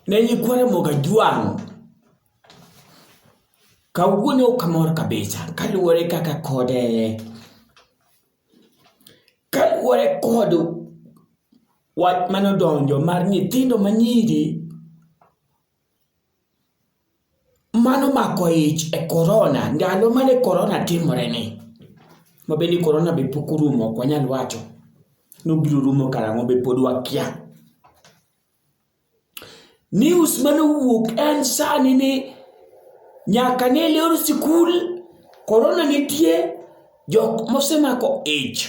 ne nyikwa Ramogi Ajwang' kawuono ok amor kabisa kaluwore kaka kod kaluwore kod wach manodonjo mar nyithindo manyiri mano mako ich e korona ndalo mane korona timoreni mabende korona be pok orumo ok wanyal wacho nobiro rumo karang'o be pod wakia news mane owuok en sani ni nyaka ne lor sikul korona nitie jok mosemako ich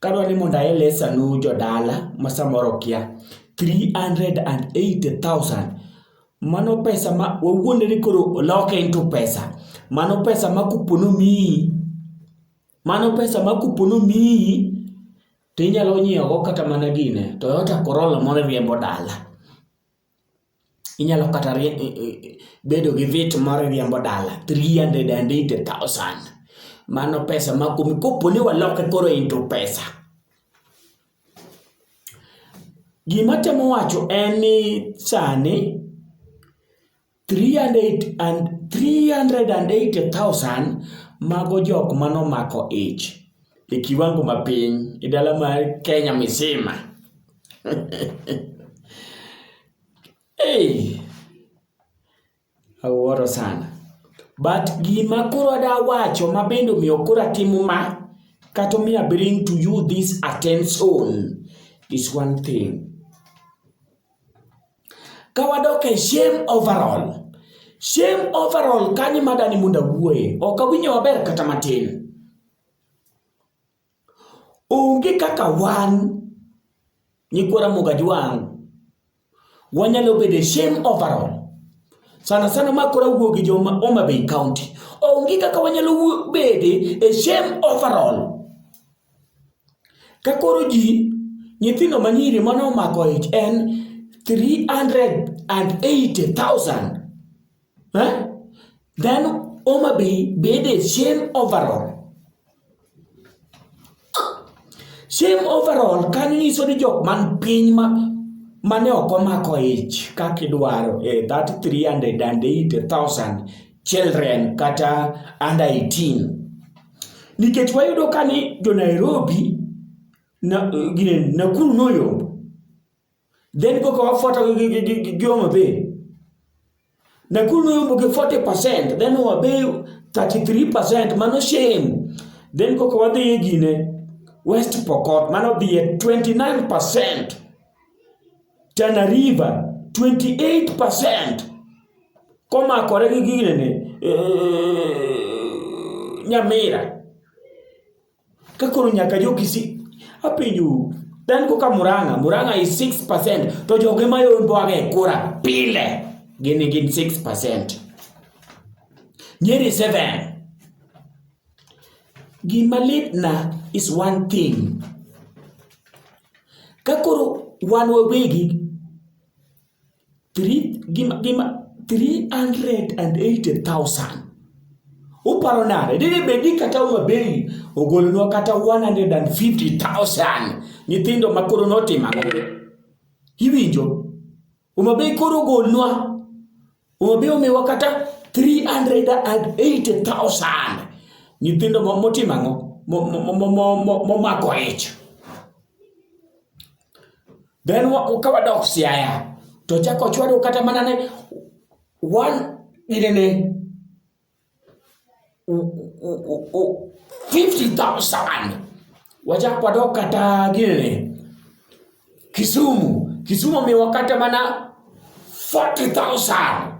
Kadwa ni mondo aelesanu jodala ma samoro kia, 380,000 mano pesa ma wawuonde ni koro loke into pesa. Mano pesa ma kupo nomiyi, mano pesa ma kupo nomiyi to inyalo nyiewogo kata mana gine Toyota Corolla moro iriembo dala. Inyalo kata bedo gi vit moro iriembo dala three hundred and eighty thousand. Mano pesa ma kumi kopo ni waloke koro into pesa. Gima atemo wacho en ni sani 380,000 mago jok manomako ich e kiwango mapiny e dala mar Kenya misima. hey, awuoro sana. But gima koro ada wacho ma bende omiyo koro atimo ma kata omiyo bring to you this attention is one thing. Ka wadok e shame overall, shame overall kanyo madani mondo awuoye, ok awinjo maber kata matin. Onge kaka wan nyikwa Ramogi Ajwang' wanyalo bedo e shame overall. Sana sana ma koro awuo gi joma Homa Bay County. Onge kaka wanyalo bede e shame overall. Ka koro ji nyithindo manyiri mane omako ich en 380,000 eh? then Homa Bay bede shame overall shame overall kanyo nyiso ni jok man piny ma mane ok omako ich kaka idwaro e eh, that 380,000 children kata under 18 Nikech wayudo ka ni jo Nairobi na, gine, Nakuru noyombo, then koka wafuata gi- gi- gi- gi- gi gi Homa Bay. Nakuru noyombo gi 40%, then Homa Bay 33%, mano shame. Then koka wadhi e gine West Pokot, mano dhiye 29%. Tana River 28% komakore gi ginene eh, Nyamira ka koro nyaka jo Kisii apenjo then koka Murang'a Murang'a is 6% to joge mayomboaga e kura pile gini gin 6% Nyeri 7 gima litna is one thing Ka koro wan wawegi three gima gima three hundred and eighty thousand uparo nade dine bedi kata Homa Bay ogolonwa kata one hundred and fifty thousand nyithindo makoro notimo ang'o iwinjo Homabay koro golnwa Homabay omiwa kata 380,000 nyithindo motimo ang'o momako ich then ka wadok siaya to chako chwado kata mana ne one inene 50,000 wachakwado kata gini Kisumu Kisumu miwa kata mana 40,000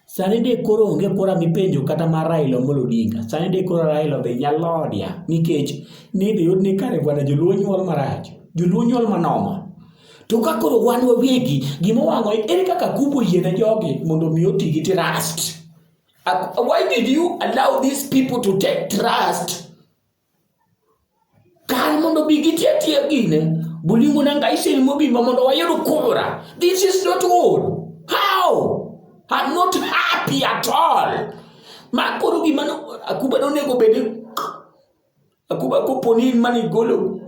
sani de koro onge kora mipenjo kata ma Raila Amolo Odinga sani de koro Raila odhi nyalodia nikech nidhi yud ni kare bwana joluo nyuol marach joluo nyuol manoma to ka koro wan wawegi gima wang'o ere kaka kubo yiene jogi mondo mi oti gi trust Why did you allow these people to take trust? Kar mondo bi gitia tia gine, bulingo na ngai sel mobimba mondo wayud kura. This is not good. How? I'm not happy at all. Makuru gimano akuba nonego bedi Akuba kopo ni in mane igolo.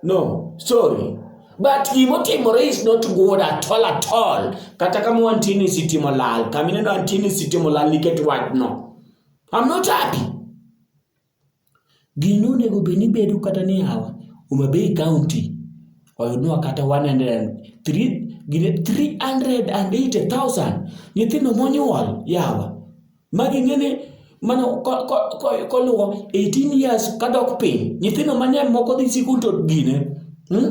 No, sorry. But gimotimore is not good at all at all. Kata kama wantini sitimo lal, kama ineno antini sitimo lal nikech wachno. I'm not happy. Gino onego bed ni bedo kata ni hawa Homa Bay County oyudnwa kata 103 380,000 nyithindo monyuol yawa ma ging'ene mana koluwo 18 years kadok piny nyithindo mang'eny moko dhi sikul to gine hmm?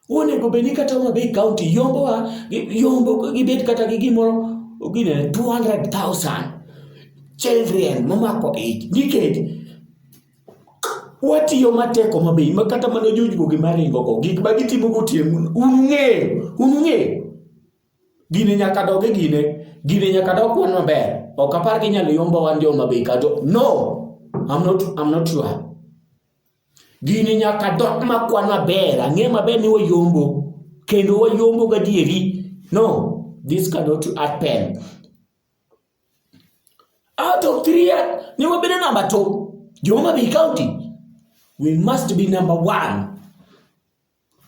onego bed ni kata Homa Bay County yombowa yombo gibed kata gi gimoro gine 200,000 children momako ich nikech watiyo matek Homa Bay ma kata mana jojwogi maringogo gik ma gitimo gotieno unung'eyo unung'eyo Gini nyaka dog e gine. Gini nyaka dog kwan maber. Ok apar gi nyalo yombo wan jo ma beka to no. I'm not I'm not sure. Gini nyaka dog ma kwan maber. Ang'e maber ni wayombo kendo wayombo gadieri. No, this cannot happen. Out of three, ni wabedo namba two. Joma Bay County, we must be number one.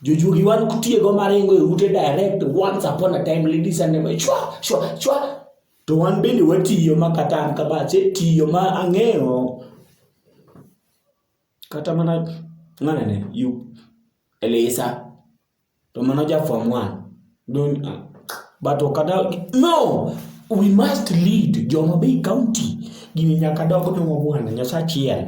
Jojuogi wan kutiego maringo e ute direct once upon a time ladies and gentlemen. Chwa chwa chwa. To wan bende watiyo ma kata an kama che tiyo ma ang'eyo kata mana ng'ane ne you Elisa to mano ja form 1 don't uh, but okada no we must lead joma be county gini nyaka dog ne wabwana nyasachiel